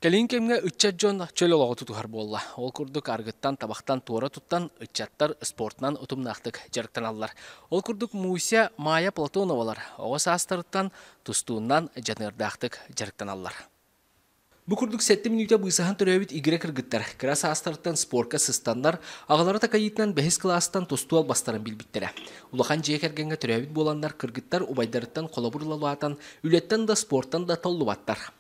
Кэлин кэмҥэ ыччат дьон чөл олоҕу тутуһар буолла. Ол курдук аргыттан, табахтан туора туттан ыччаттар спортунан утумнаахтык дьарыктаналлар. Ол курдук Муся, Майя Платоновалар оҕо саастарыттан тустууннан дьаныардаахтык дьарыктаналлар. Бу курдук сэттэ мүнүүтэ быысаһан төрөөбүт игирэ кыргыттар кыра саастарыттан спорка сыстаннар, аҕалара такайыытынан бэһис кылаастан тустуу албастарын билбиттэрэ. Улахан дьиэ кэргэҥҥэ төрөөбүт буоланнар кыргыттар убайдарыттан холобур ылалаатан, үлэттэн да спортан да толлубаттар.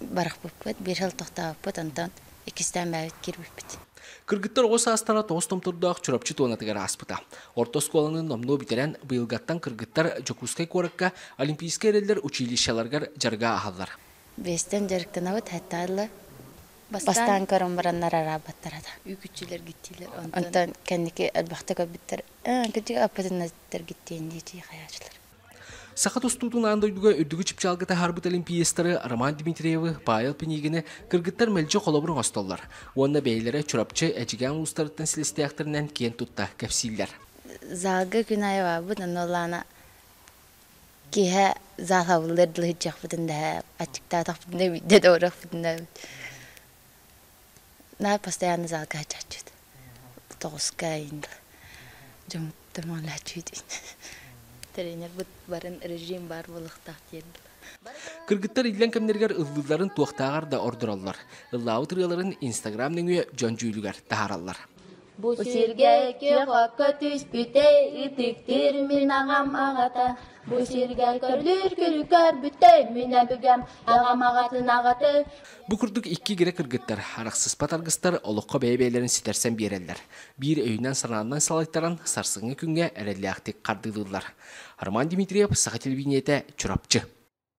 барахпыппыт биир сыл тохтообуппут онтон иккистээн бэйэбит кирбиппит Кыргыттар оҕо саастара тоҕус томтордоох Чурапчы туонатыгар ааспыта. Орто оскуоланы номнуо бүтэрэн, быйылгаттан кыргыттар Дьокуускай куоракка олимпийскай эрэллэр училищеларыгар дьарыга аһаллар. Биэстэн дьарыктанабыт, хаттаалла бастаан көрөн бараннар араабаттара да. Үүкүччүлэр гиттилэр онтон онтон кэнники өлбөхтө көрбүттэр кырдьык аппытыннар гиттиэн диэчи хайаачылар Саха тустуутунаан дойдуга үрдүкү чыпчаалга таһаарбыт олимпиецтары Роман Дмитриевы, Павел Пинигины кыргыттар мэлдьи холобурун оҥостоллор уонна бэйэлэрэ Чурапчы, Эдьигээн улуустарыттан силистэхтэринэн киэн тутта кэпсииллэр. Залга Күнаевабыт онолаана киһэ залабыллар дылы сыдьахпытын да аччыктаатахпытына бидде доорахпытына Наар постоянно залга ачааччыт. Тоҕускаин, дьомуттан молячуйт. Тренербут барын режим баар болуктаах киэрдил. Кыргыттар иллэн кэмнэригэр ыллыыларын туохтааҕар да ордороллор. Ыллаабыт ырыаларын Инстаграм нөҥүө дьон дьүүлүгэр таһаараллар. Бу сиргэ икки-хокко түспүтэ итиктир мин аҕам аҕата. Бу сиргэ көрдүүр күлү көрбүтэй мин эбигem аҕам аҕатын аҕата. Бу курдук икки игирэ кыргыттар, арахсыспат аргыстар олоххо бэйэ-бэйэлэрин ситэрсэн биэрэллэр. Биир өйүнэн-санаанан салайтаран, сарсыҥҥы күҥҥэ эрэллээхтик хардыылыыллар. Роман Дмитриев, Саха телевидениетэ, Чурапчы.